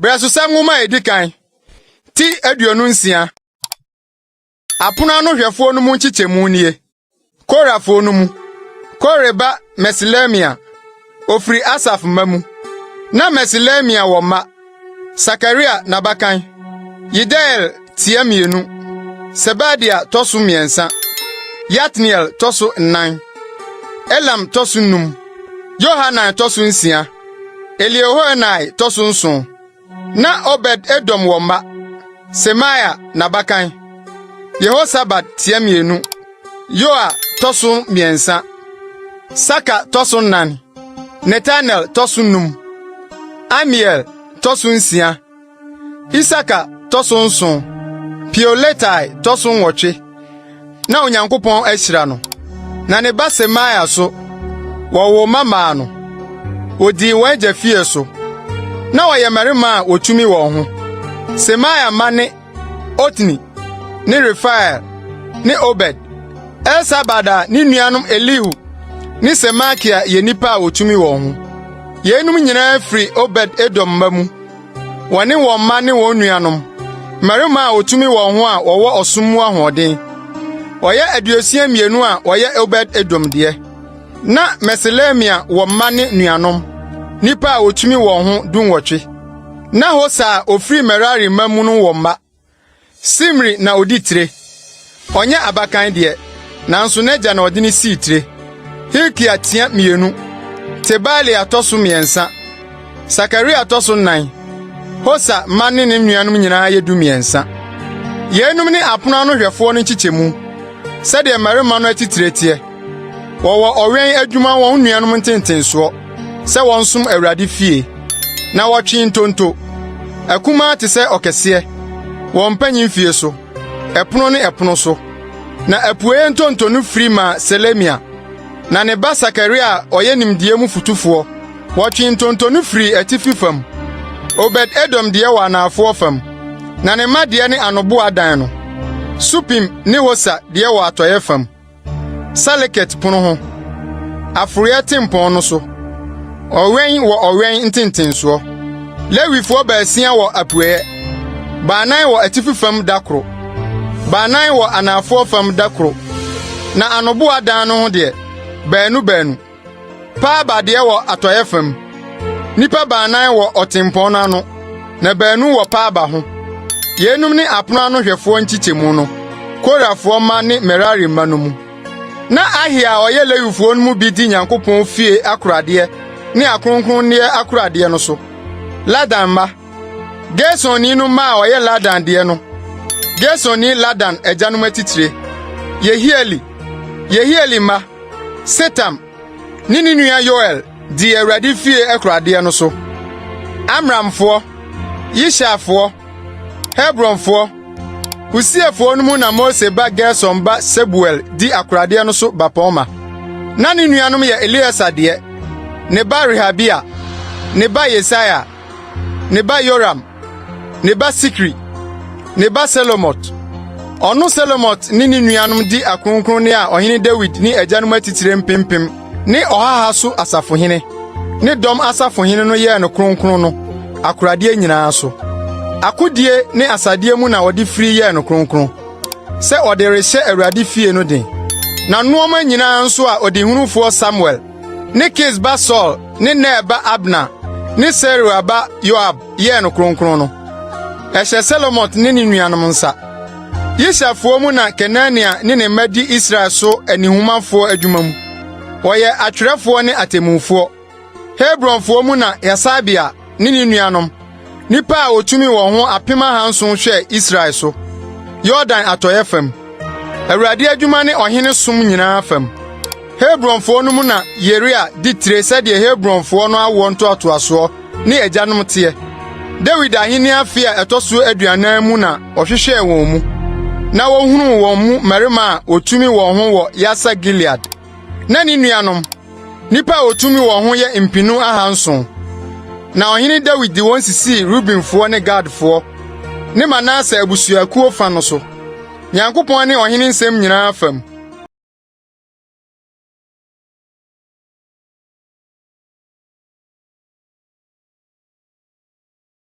Brɛsosɛm nwoma a edi kan ti aduonu nsia. Apono ano hwɛfoɔ no mu nkyekyɛmu nie. Korafo no mu, Kore ba Meselemia Ofiri Asaf mma mu. Na Meselemia wɔ mma, Sakaria n'abakan, Yediael tia mmienu, Sebadia tɔ so mmiɛnsa, Yatniel tɔ so nnan, Elam tɔ so num, Yohanan tɔ so nsia, Eliehoenai tɔ so nson. Na Obed Edom wɔ mma, Semaia n'abakan, Yehosabad tia mmienu, Yoa tɔ so mmiɛnsa, Saka tɔ so nnan, Netanel tɔ so num, Amiel tɔ so nsia, Isaka tɔ so nson, Peuletai tɔ so nwɔtwe. na Onyankopɔn ahyira no, na ne ba Semaia so, wɔwoo mma maa no. Wɔdii wɔn agya fie so. Na wɔyɛ mmarima a wɔtumi wɔn ho. Semaia mma ne Otni ne Refael ne Obed. Elsabad a ne nuanom Elihu ne Semakia yɛ nnipa a wɔtumi wɔn ho. Yeinom nyinaa firi Obed Edom mma mu. wɔne wɔn mma ne wɔn nuanom, mmarima a wɔtumi wɔn ho a wɔwɔ ɔsom mu ahoɔden. Wɔyɛ aduosia mmienu a wɔyɛ Obed Edom deɛ. Na Meselemia wɔ mma ne nuanom, nnipa a wɔtumi wɔn ho dunwɔtwe. Na Hosa a ɔfiri Merari mma mu no wɔ mma. Simri na odi tire. Ɔnyɛ abakan deɛ, nanso n'agya na ɔde no sii tire. Hilkia tia mmienu. Tebalia tɔ so mmiɛnsa. Sakaria tɔ so nnan. Hosa mma ne ne nuanom nyinaa yɛ dumiɛnsa. Yeinom ne apono ano hwɛfoɔ no nkyekyɛmu, sɛdeɛ mmarima no atitire teɛ. Wɔwɔ ɔwɛn adwuma wɔn nuanom ntentensoɔ sɛ wɔnsom Awurade fie, na wɔtwe ntonto. Akumaa te sɛ ɔkɛseɛ, wɔn mpanyin fie so, ɛpono ne ɛpono so. Na apueeɛ ntonto no firi ma Selemia, na ne ba Sakaria a ɔyɛ nimdeɛ mu fotufoɔ. Wɔtwe ntonto no firi atifi fam. Obed-Edom deɛ wɔ anaafoɔ fam, na ne mma deɛ ne anoboa dan no. Supim ne Hosa deɛ wɔ atɔeɛ fam. Saleket pono ho, Aforɔeɛ tempɔn no so, Ɔwɛn wɔ ɔwɛn ntentensoɔ. Lewifoɔ baasia wɔ apueeɛ, baanan wɔ atifi fam da koro, baanan wɔ anaafoɔ fam da koro, na anoboa dan no ho deɛ, baanu baanu. Paa baadeɛ wɔ atɔeɛ fam. Nnipa baanan wɔ ɔtempɔn no ano, na baanu wɔ paa ba ho. Yeinom ne apono ano hwɛfoɔ nkyekyɛmu no, Korafoɔ mma ne Merari mma no mu. Na Ahiya a ɔyɛ Lewifoɔ no mu bi di Nyankopɔn fie akoradeɛ ne akronkronneɛ akoradeɛ no so. Ladan mma Gersonni no mma a ɔyɛ Ladan deɛ no, Gersonni Ladan agyanom atitire, Yehieli, Yehieli mma, Setam ne ne nua Yoel dii Awurade fie akuradeɛ no so. Amramfoɔ, Yisharfoɔ, Hebronfoɔ, Usiefoɔ no mu na Mose ba Gerson ba Sebuel di akoradeɛ no so bapɔmma. Na ne nuanom yɛ Eleasa deɛ, ne ba Rehabia, ne ba Yesaia, ne ba Yoram, ne ba Sikri, ne ba Selomot. Ɔno Selomot ne ne nuanom di akronkronne a Ɔhene Dawid ne agyanom atitire mpempem ne ɔhaha so asafohene ne dɔm asafohene no yɛɛ no kronkron no akoradeɛ nyinaa so. Akodie ne asadeɛ mu na ɔde firi yɛɛ no kronkron sɛ ɔde rehyɛ Awurade fie no den. Na nnoɔma nyinaa nso a ɔdehunufoɔ Samuel ne Kis ba Saul ne Ner ba Abner ne Seruia ba Yoab yɛɛ no kronkron no, ɛhyɛ Selomot ne ne nuanom nsa. Yishafoɔ mu na Kenania ne ne mma di Israel so anihumafoɔ adwuma mu. Wɔyɛ atwerɛfoɔ ne atemmufoɔ. Hebronfoɔ mu na Hasabia ne ne nuanom, nnipa a wɔtumi wɔn ho apem ahanson hwɛɛ Israel so, Yordan atɔeɛ fam, Awurade adwuma ne ɔhene som nyinaa fam. Hebronfoɔ no mu na Yeria di tire sɛdeɛ Hebronfoɔ no awoɔ ntoatoasoɔ ne agyanom teɛ. Dawid ahenni afe a ɛtɔ so aduanan mu na ɔhwehwɛɛ wɔn mu, na wɔhunuu wɔn mu mmarima a wɔtumi wɔn ho wɔ Yasa Gilead. na ne nuanom, nnipa a wɔtumi wɔn ho yɛ mpenu ahanson. Na ɔhene Dawid de wɔn sisii Rubenfoɔ ne Gadfoɔ ne Manase abusuakuo fa no so. Nyankopɔn ne ɔhene nsɛm nyinaa fam.